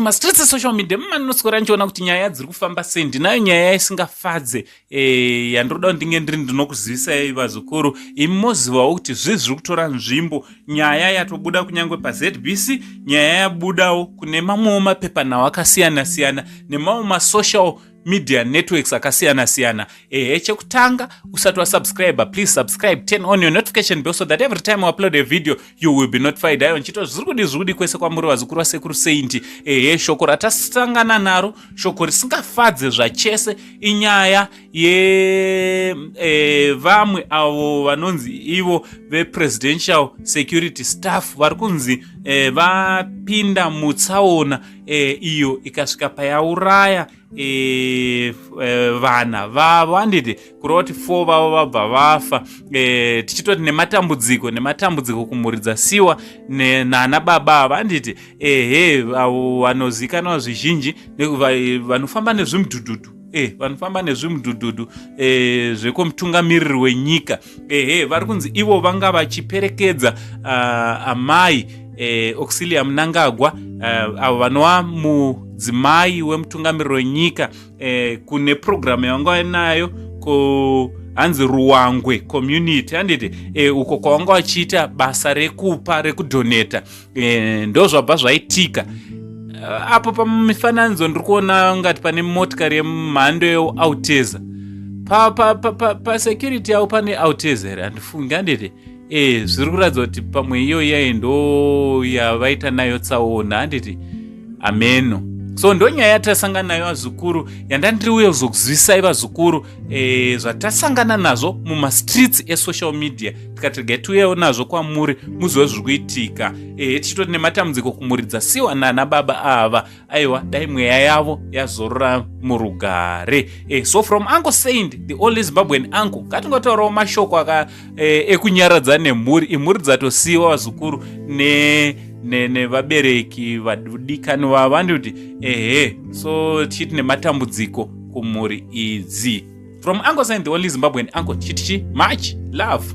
mastreets esocial media mumaninoswera ndichiona kuti nyaya dziri kufamba sei ndinayo nyaya isingafadze eh, yandinoda kuti ndinge ndiri ndinokuzivisai vazukuru imi mozivawo kuti zvii zviri kutora nzvimbo nyaya yatobuda kunyange pazbc nyaya yabudawo kune mamwewo mapepanhau akasiyana siyana nemamwe masocial media networks akasiyana siyana ehe chekutanga usati wasubscriber please subscribe turn on your notification bell so that every time u upload a video you will be notified ayo nchito zviri kudi zviri kudi kwese kwamuri vazukuru vasekuru sainti ehe shoko ratasangana naro shoko risingafadze zvachese inyaya ye e, vamwe avo vanonzi ivo vepresidential security staff vari kunzi e, vapinda mutsaona e, iyo ikasvika payauraya e, e, vana vavo handiti kureva kuti fo vavo vabva vafa e, tichitoti nematambudziko nematambudziko kumhuri dzasiwa nana baba ava handiti ehe avo vanozivikanwa zvizhinji vanofamba nezvimudhudhudhu e, vanofamba nezvimudhudhudhu e, zvekwemutungamiriri wenyika ehe vari kunzi ivo vanga vachiperekedza uh, amai eh, auxilia munangagwa uh, avo vanova mudzimai wemutungamiriro wenyika eh, kune purogiramu yavanga vainayo ku hanzi ruwangwe community handiti e, uko kwavanga vachiita basa rekupa rekudhoneta e, ndozvabva zvaitika eh, apo pamifananidzo ndiri kuona ngati pane motikari yemhando yeauteza pasecurity yavo pane auteza here handifungi handiti e zviri kuratidza kuti pamwe iyo iyayi ndo yavaita nayo tsaona handiti ameno so ndonyaya yatasangana nayo vazukuru yandandiri uye kuzokuzivisai vazukuru e, zvatasangana nazvo mumastreets esocial media tikati regai tiuyewo nazvo kwamuri muzive zviri kuitika ehe tichitoti nematambudziko kumuridza siwa nana baba ava aiwa dai mweya yavo yazorora murugare e, so from uncle saint the only zimbabwean uncle ngatingotaurawo mashoko aka e, ekunyaradza nemhuri imhuri dzatosiyiwa vazukuru ne nevabereki ne, vadikani vava ndikuti ehe so tichiti nematambudziko kumhuri idzi from uncle sign the only zimbabwean uncle chitichi much love